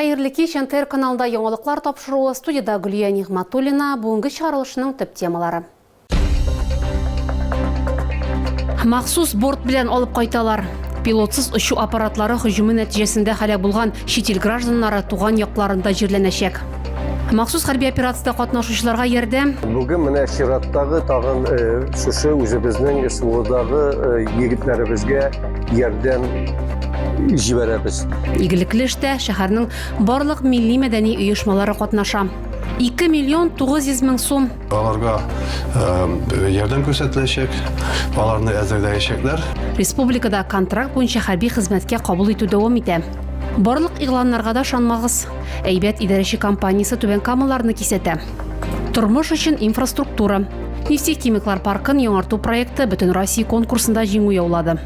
Хәерле кич, НТР каналында яңалыклар тапшыруы, студиядә Гөлия Нигъматуллина, бүгенге чыгарылышның төп темалары. Махсус борт белән алып кайталар. Пилотсыз очу аппаратлары һөҗүме нәтиҗәсендә һәлак булган чит ил гражданнары туган якларында җирләнәчәк. Махсус хәрби операциядә катнашучыларга ярдәм. Бүген менә чираттагы тагын э, шушы үзебезнең СВОдагы э, егетләребезгә ярдәм җибәрәбез. Игелекле эштә шәһәрнең барлык милли мәдәни оешмалары катнаша. 2 миллион 900 мең сум. Аларга э, ярдәм күрсәтеләчәк, аларны әзерләячәкләр. Республикада контракт буенча хәрби хезмәткә кабул итү дәвам итә. Барлык игъланнарга да шанмагыз. Әйбәт идарәче компаниясе Түбән Камаларны кисәтә. Тормыш өчен инфраструктура. Нефтехимиклар паркын яңарту проекты бөтен Россия конкурсында җиңү яулады.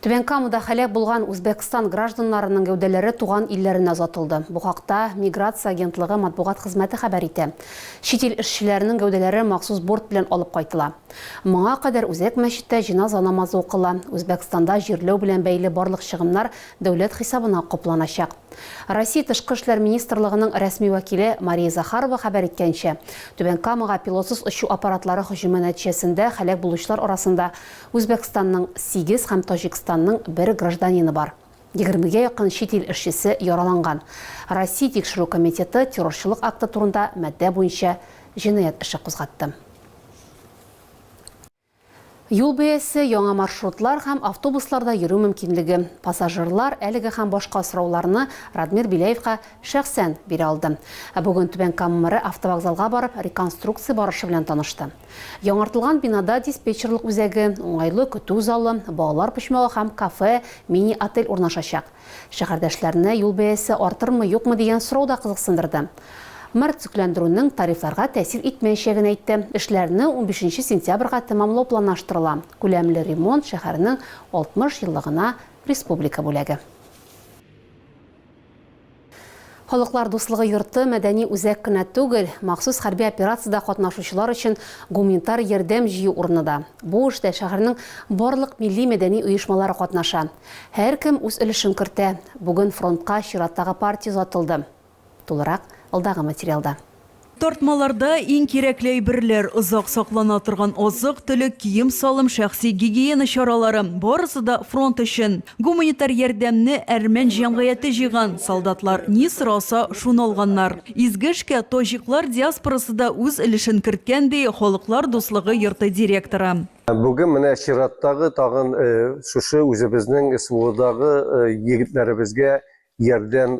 Түбән Камада хәләк булган Үзбәкстан гражданнарының гәүдәләре туган илләренә озатылды. Бу хакта миграция агентлыгы матбугат хезмәте хәбәр итә. Чит ил эшчеләренең гәүдәләре махсус борт белән алып кайтыла. Моңа кадәр үзәк мәчеттә җеназа намазы укыла, Үзбәкстанда җирләү белән бәйле барлык чыгымнар дәүләт хисабына капланачак. Россия Тышкы эшләр министрлыгының рәсми вәкиле Мария Захарова хәбәр иткәнчә, Түбән Камага пилотсыз очу аппаратлары һөҗүме нәтиҗәсендә һәлак булучылар арасында Үзбәкстанның сигез һәм Таҗикстанның бер гражданины бар. Егермегә якын чит ил эшчесе яраланган. Россия Тикшерү комитеты террорчылык акты турында маддә буенча җинаять эше кузгатты. Юл бәясе, яңа маршрутлар һәм автобусларда йөрү мөмкинлеге. Пассажирлар әлеге һәм башка сорауларны Радмир Беляевка шәхсән бирә алды. Ә бүген Түбән Кама мэры автовокзалга барып, реконструкция барышы белән танышты. Яңартылган бинада диспетчерлык үзәге, уңайлы көтү залы, балалар почмагы һәм кафе, мини-отель урнашачак. Шәһәрдәшләрне юл бәясе артырмы, юкмы дигән сорау да кызыксындырды. Мэр төзекләндерүнең тарифларга тәэсир итмәячәген әйтте. Эшләрне унбишенче сентябрьгә тәмамлау планлаштырыла. Күләмле ремонт шәһәрнең 60 еллыгына республика бүләге. Халыклар дуслыгы йорты мәдәни үзәк кенә түгел, махсус хәрби операциядә катнашучылар өчен гуминтар ярдәм җыю урыны да. Бу эштә шәһәрнең барлык милли-мәдәни оешмалары катнаша. Һәркем үз өлешен кертә. Бүген фронтка чираттагы партия озатылды. Тулырак алдагы материалда. Тартмаларда иң кирәкле әйберләр, озак саклана торган азык-төлек, кием-салым, шәхси гигиена чаралары, барысы да фронт өчен. Гуманитар ярдәмне әрмән җәмгыяте җыйган, солдатлар ни сораса, шуны алганнар. Изге эшкә таҗиклар диаспорасы да үз өлешен керткән, ди Халыклар дуслыгы йорты директоры. Бүген менә чираттагы тагын шушы үзебезнең СВОдагы егетләребезгә ярдәм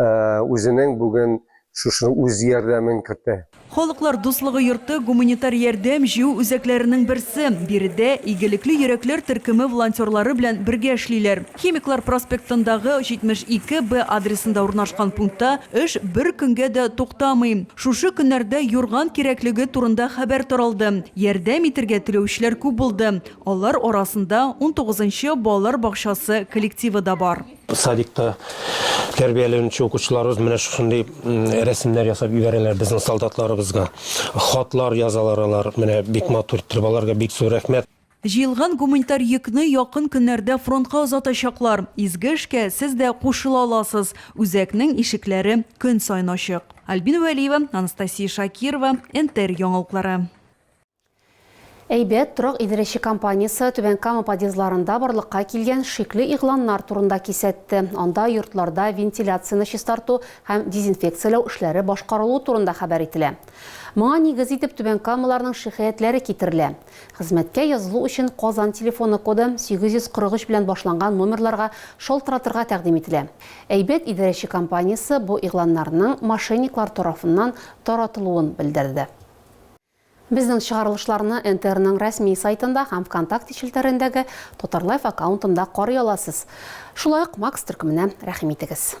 үзенең бүген шушы үз ярдәмен кертә. Халыклар дуслыгы йорты гуманитар ярдәм җыю үзәкләренең берсе. Биредә Игелекле йөрәкләр төркеме волонтерлары белән бергә эшлиләр. Химиклар проспектындагы 72 Б адресында урнашкан пунктта эш бер көнгә дә туктамый. Шушы көннәрдә юрган кирәклеге турында хәбәр таралды. Ярдәм итергә теләүчеләр күп булды. Алар арасында унтугызынчы балалар бакчасы коллективы да бар. Садикта тәрбияләнүче укучыларыбыз менә шушындый рәсемнәр ясап ибәрәләр безнең солдатларыбызга. Хатлар язалар алар. Менә бик матур иттереп. Аларга бик зур рәхмәт. Җыелган гуманитар йөкне якын көннәрдә фронтка озатачаклар. Изге эшкә сез дә кушыла аласыз. Үзәкнең ишекләре көн саен ачык. Альбина Вәлиева, Анастасия Шакирова, НТР яңалыклары. Әйбәт торак идарәче компаниясе Түбән Кама подъездларында барлыкка килгән шикле игъланнар турында кисәтте. Анда йортларда вентиляцияне чистарту һәм дезинфекцияләү эшләре башкарылуы турында хәбәр ителә. Моңа нигез итеп Түбән Камаларның шикаятьләре китерелә. Хезмәткә язылу өчен Казан телефоны коды 843 белән башланган номерларга шалтыратырга тәкъдим ителә. Әйбәт идарәче компаниясе бу игъланнарның мошенниклар тарафыннан таратылуын белдерде. Безнең чыгарылышларны НТРның рәсми сайтында һәм Вконтакте челтәрендәге Татарлайф аккаунтында карый аласыз. Шулай ук Макс төркеменә рәхим итегез.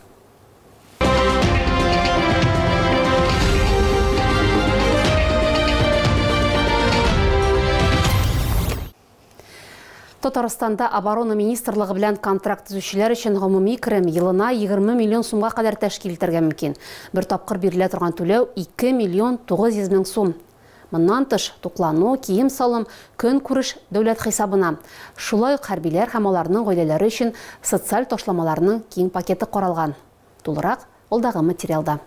Татарстанда оборона министрлыгы белән контракт төзүчеләр өчен гомуми керем елына 20 миллион сумга кадәр тәшкил итәргә мөмкин. Бер тапкыр бирелә торган түләү 2 миллион 900 мең сум. Моннан тыш, туклану, кием-салым, көнкүреш дәүләт хисабына. Шулай ук хәрбиләр һәм аларның гаиләләре өчен социаль ташламаларның киң пакеты каралган. Тулырак алдагы материалда.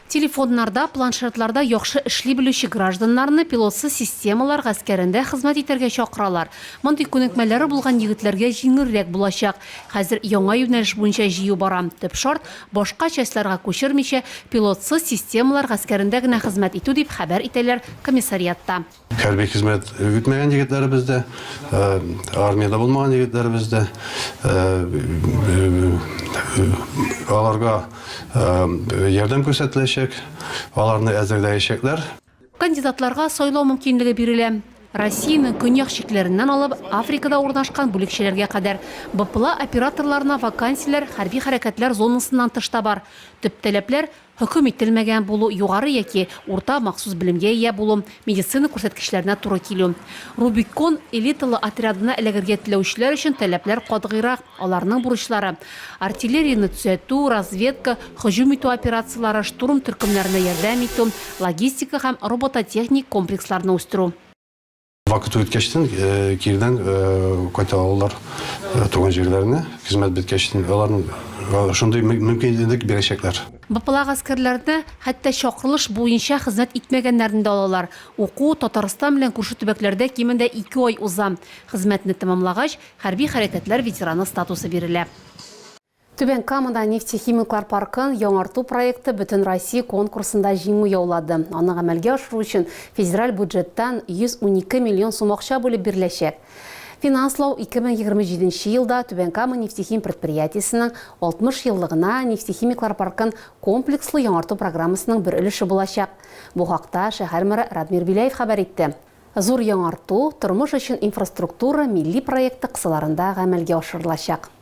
Телефоннарда, планшетларда яхшы эшли белүче гражданнарны пилотсыз системалар гаскәрендә хезмәт итәргә чакыралар. Мондый күнекмәләре булган егетләргә җиңелрәк булачак. Хәзер яңа юнәлеш буенча җыю бара. Төп шарт, башка частьларга күчермичә, пилотсыз системалар гаскәрендә генә хезмәт итү, дип хәбәр итәләр комиссариатта. Хәрби хезмәт үтмәгән егетләребез дә, армиядә булмаган егетләребез дә, аларга ярдәм күрсәтеләчәк, аларны әзерләячәкләр. Кандидатларга сайлау мөмкинлеге бирелә. Россиянең көньяк чикләреннән алып, Африкада урнашкан бүлекчәләргә кадәр, БПЛА операторларына вакансияләр хәрби хәрәкәтләр зонасыннан тыш та бар. Төп таләпләр, Хөкем ителмәгән булу, югары яки урта махсус белемгә ия булу, медицина күрсәткечләренә туры килү. Рубикон элиталы отрядына эләгергә теләүчеләр өчен таләпләр катгыйрак, аларның бурычлары, артиллерияне төзәтү, разведка, һөҗүм итү операцияләре, штурм төркемнәренә ярдәм итү, логистика һәм робототехник комплексларны үстерү. Вакыт үткәчтен э, кирдән э, кайта алалар э, туган җирләренә, хезмәт беткәчтен аларның шундый мөмкинлек бирәчәкләр. БПЛА гаскәрләрне хәтта чакырылыш буенча хезмәт итмәгәннәрне дә алалар. Уку Татарстан белән күрше төбәкләрдә кимендә ике ай уза. Хезмәтне тәмамлагач, хәрби хәрәкәтләр ветераны статусы бирелә. Түбән Камада нефтехимиклар паркын яңарту проекты бөтенроссия конкурсында җиңү яулады. Аны гамәлгә ашыру өчен федераль бюджеттан 112 миллион сум акча бүлеп биреләчәк. Финанслау 2027 елда Түбән Кама нефтехим предприятиесенең 60 еллыгына нефтехимиклар паркын комплекслы яңарту программасының бер өлеше булачак. Бу хакта шәһәр мэры Радмир Беляев хәбәр итте. Зур яңарту, тормыш өчен инфраструктура милли проекты кысаларында гамәлгә ашырылачак.